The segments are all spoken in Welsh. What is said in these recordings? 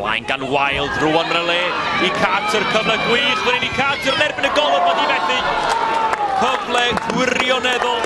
Blaen gan Wild, rwan yn y le i Carter, cyfle gwych fan hyn i Carter yn erbyn y golwr mae di methu. Cyfle gwirioneddol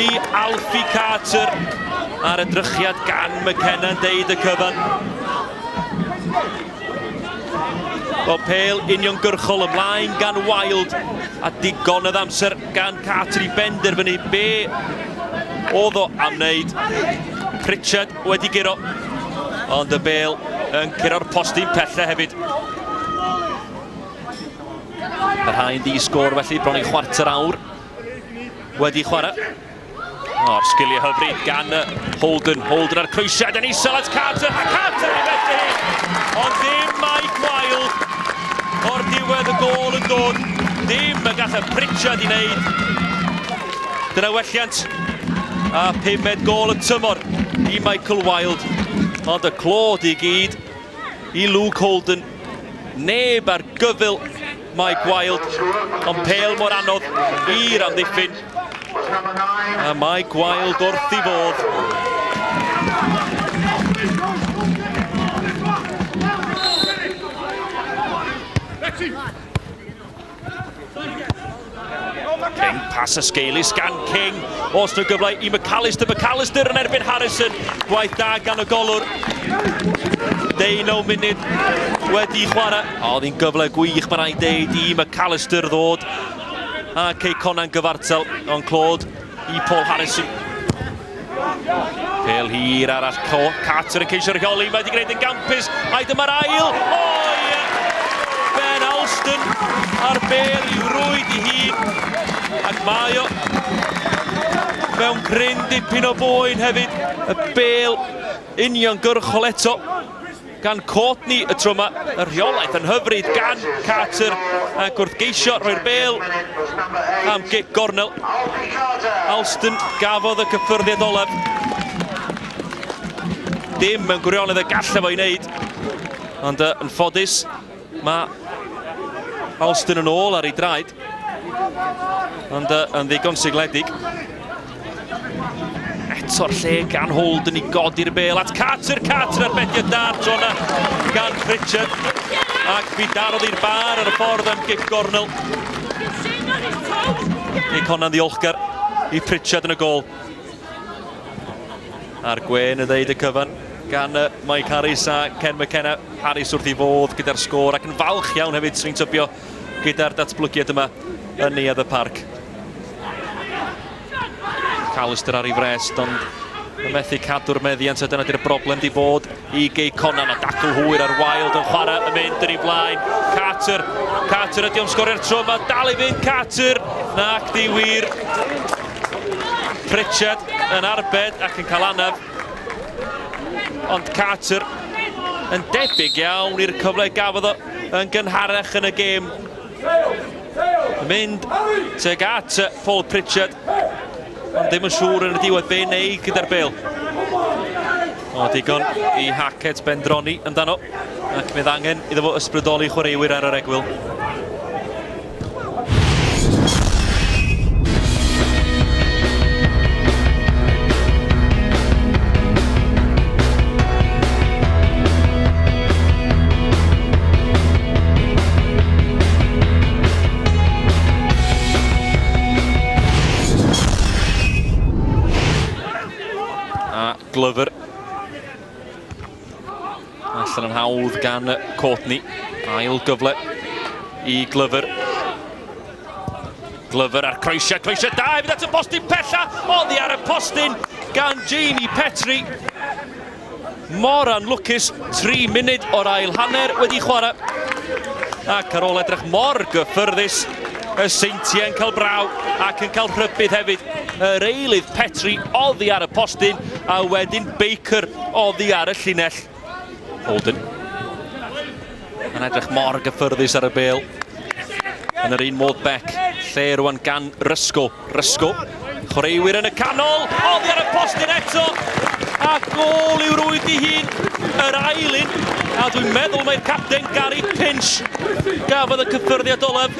i Alfie Carter ar y drychiad gan McKenna yn deud y cyfan. O pel uniongyrchol ymlaen gan Wild a digon o amser Gan Katri benderfynu be oedd o am wneud. Pritchard wedi guro, ond y bel yn curo'r postyn pelle hefyd. Yr haen di sgôr felly, bron i chwarter awr wedi chwarae. O'r sgiliau hyfryd gan Holden. Holden ar croesiad yn isel at Carter. A Carter i fethu! Ond ddim mai gwael o'r diwedd y gol yn dod. Dim y gallai Pritchard i wneud. Dyna welliant a pumed gol y tymor i Michael Wild. Ond y clod i gyd i Luke Holden. Neb ar gyfyl Mae Gwaelod yn pêl mor anodd i'r amddiffyn. A mae Gwaelod wrth i fodd. Let's see. King, pas a sgeulus gan King. Os nhw gyfle i McAllister, McAllister yn erbyn Harrison. Gwaith da gan y golwr. Deunaw munud wedi chwarae. A oedd hi'n gyfle gwych, mae'n rhaid deud, i McAllister ddod. A Cei Conan gyfartal, ond clod i Paul Harrison. Pel hir arall, Carter yn ceisio rheoli, mae wedi gwneud yn gampus, mae dyma'r ail, o ie! Ben Alston ar bel i'w rwyd i hun, ac mae o mewn gryn dipyn o boen hefyd, y bel uniongyrchol eto. gan Courtney y tro yma, y rheolaeth yn hyfryd gan Carter ac wrth geisio rhoi'r bel am gic gornel, Alston gafodd y cyffyrddiad olaf. Dim mewn gwirionedd y gallai fo i wneud, ond yn ffodus Mae Alston yn ôl ar ei draed, ond uh, yn ddigon sigledig. Eto'r lle gan Holt yn ei godi'r bel at Carter, Carter ar bediau da tro yna gan Pritchard. Ac fi darodd i'r bar ar y ffordd am gig gornel. Nick Honna'n ddiolchgar i Pritchard yn y gol. A'r gwen yn ddeud y cyfan gan uh, Mike Harris a Ken McKenna. Harris wrth i fodd gyda'r sgôr ac yn falch iawn hefyd sy'n tybio gyda'r datblygiad yma yn neuad y parc. Callister ar ei frest ond yn methu cadw'r meddiant a dyna di'r broblem di bod Y gig Conan a dacl hwyr ar Wilde yn chwarae yn mynd yn ei flaen. Carter, Carter ydy o'n sgorio'r tro yma, dal i fynd Carter, nac di wir. Pritchard yn arbed ac yn cael anaf. Ond Carter yn debyg iawn i'r cyfle gafodd o yn gynharach yn y gêm. Mynd teg at Paul Pritchard. Ond ddim yn siŵr yn y diwedd be neu gyda'r bel. O, digon i Hackett bendroni amdano. Ac fydd angen iddo fo ysbrydoli chwaraewyr ar yr egwyl. A Glover. Allan yn hawdd gan Courtney. Ail gyfle i Glover. Glover ar croesiau, croesiau da hefyd at y postyn pella, oddi ar y postyn gan Jamie Petri. Mor anlwcus, tri munud o'r ail hanner wedi chwarae. Ac ar ôl edrych mor gyffyrddus, y seintiau yn cael braw ac yn cael rhybudd hefyd. Yr eilydd Petri oddi ar y postyn a wedyn Baker oddi ar y llinell. Holden. Yn edrych mor gyffyrddus ar y bel. Yn yr un modd Beck, lle rwan gan Rysgol. Rysco, chwaraewyr yn y canol, oddi ar y postyn eto, a gol i'w rwyd i hun, yr ail un, a dwi'n meddwl mae'r capten Gary Pinch gafodd y cyffyrddiad olaf.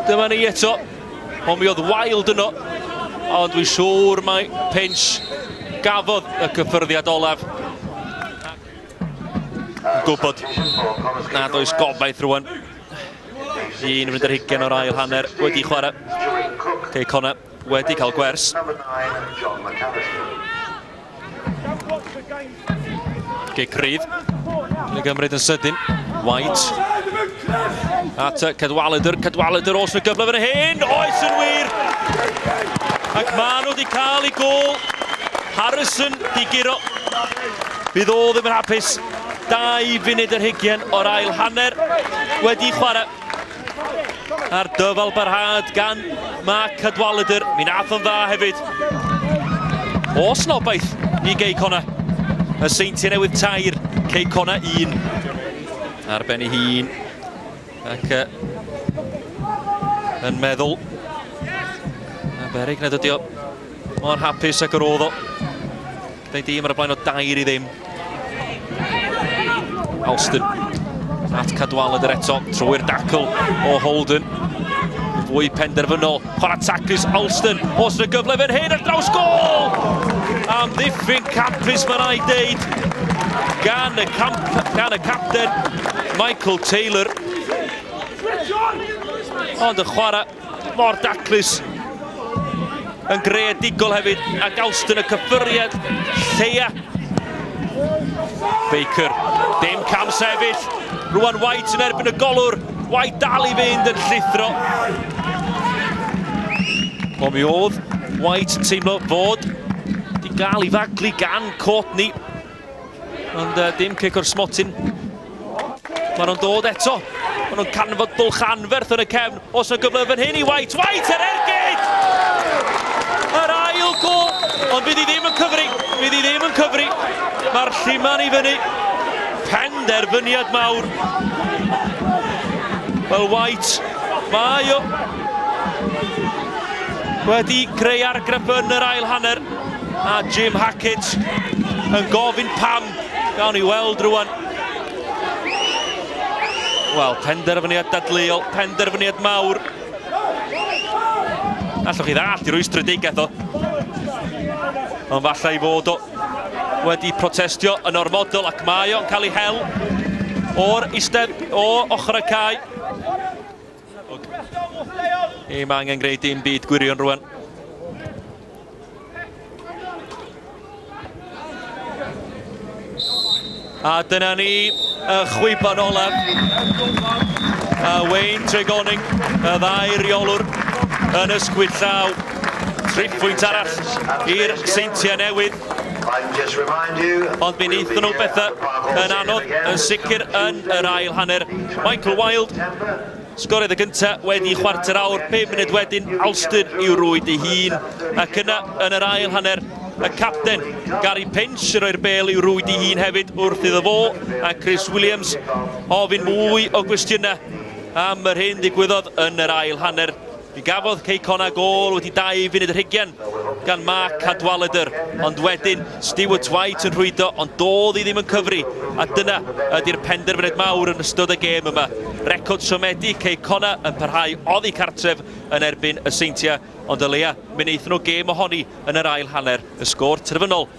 Dyma ni eto, ond mi oedd Wild yno, ond dwi'n siŵr mae Pinch gafodd y cyffyrddiad olaf. Gwybod nad oes gobaith rwan. Yn mynd yr hugen o'r ail hanner wedi chwarae. Cei Connor wedi cael gwers. Cei Crydd. Yn gymryd yn sydyn. White. At Cedwaledr. Cedwaledr os na gyfle fan hyn. Oes yn wir. Ac maen nhw wedi cael ei gol. Harrison di giro. Bydd o ddim yn hapus. Dau funud yr hygien o'r ail hanner wedi chwarae. A'r dyfal barhad gan Mark Cadwaladr. Mi nath o'n dda hefyd. O snobaeth i Gei Cona. Y seintiau newydd tair, Cei Cona un. Ar ben ei hun. Ac uh, yn meddwl na berig nad ydi o mor hapus ag yr oedd o. Dau dîm ar y blaen o dair i ddim. Alston at Cadwaladr eto, trwy'r dacl o Holden. Fwy penderfynol, chwarae taclus Alston, os yna gyfle fan hyn ar draws gol! Am ddiffyn campus mae'n ei ddeud gan y, camp, gan y capten Michael Taylor. Ond y chwarae Mor daclus yn greadigol hefyd ac Alston y cyffuriad lleia. Baker, dim cam sefyll. Rwan White yn erbyn y golwr. White dal i fynd yn llithro. O mi oedd White yn teimlo fod di gael i faglu gan Courtney. Ond uh, dim cic o'r smotyn. Mae nhw'n dod eto. Mae nhw'n canfod bwlch anferth yn y cefn. Os yna gyfle fan hyn i White. White yr ergyd! Yr ail gol. Ond bydd hi ddim yn cyfri. Bydd hi ddim yn cyfri. Mae'r lliman i fyny. Penderfyniad mawr. Wel, White, mae o wedi creu argraff yn yr ail hanner. A Jim Hackett yn gofyn pam. Gawn ni weld rwan. Wel, penderfyniad dadleuol, penderfyniad mawr. Allwch chi ddall i rwystredigaeth o. Ond falle i fod o wedi protestio yn ormodol ac mae o'n cael ei hel o'r istedd o ochr y cae. Ni mae angen gwneud dim byd gwirion rwan. A dyna ni y chwiban olaf. A Wayne Tregoning, y ddau reolwr yn ysgwyd llaw. Tripwynt arall i'r seintiau newydd. Ond mi wnaethon nhw bethau yn anodd, yn sicr yn yr ail hanner. Michael Wilde sgoriodd y gyntaf wedi chwarter awr, 5 munud wedyn Alston i'w rwyd ei hun. Ac yna, yn yr ail hanner, y capten Gary Pinch yn rhoi'r bel i'w rwyd ei hun hefyd wrth iddo fo a Chris Williams ofyn mwy o gwestiynau am yr hyn ddigwyddodd yn yr ail hanner. Fe gafodd Cei Connah gôl wedi dau funud yr hugen gan Mark Cadwaladr, ond wedyn Stuart White yn rhwydo ond dodd i ddim yn cyfri, a dyna ydy'r penderfyniad mawr yn ystod y gêm yma. Record siomedig Cei Connah yn parhau oddi cartref yn erbyn y Seintiau, ond o leia mi wnaethon nhw gêm ohoni yn yr ail hanner, y sgôr terfynol.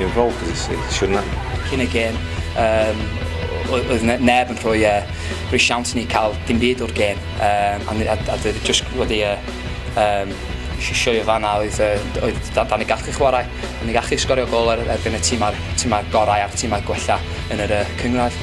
I'r rôl pwysig, siwrna. Cyn y gêm, um, oedd neb yn rhoi, uh, rhoi siawns ni cael dim byd o'r gêm. Um, a, a, a dwi just wedi uh, um, sioio fanna oedd, uh, oedd da, da ni gallu chwarae, da ni gallu sgorio gol ar, erbyn y tîmau, tîmau gorau a'r tîmau gwella yn yr uh, cyngradd.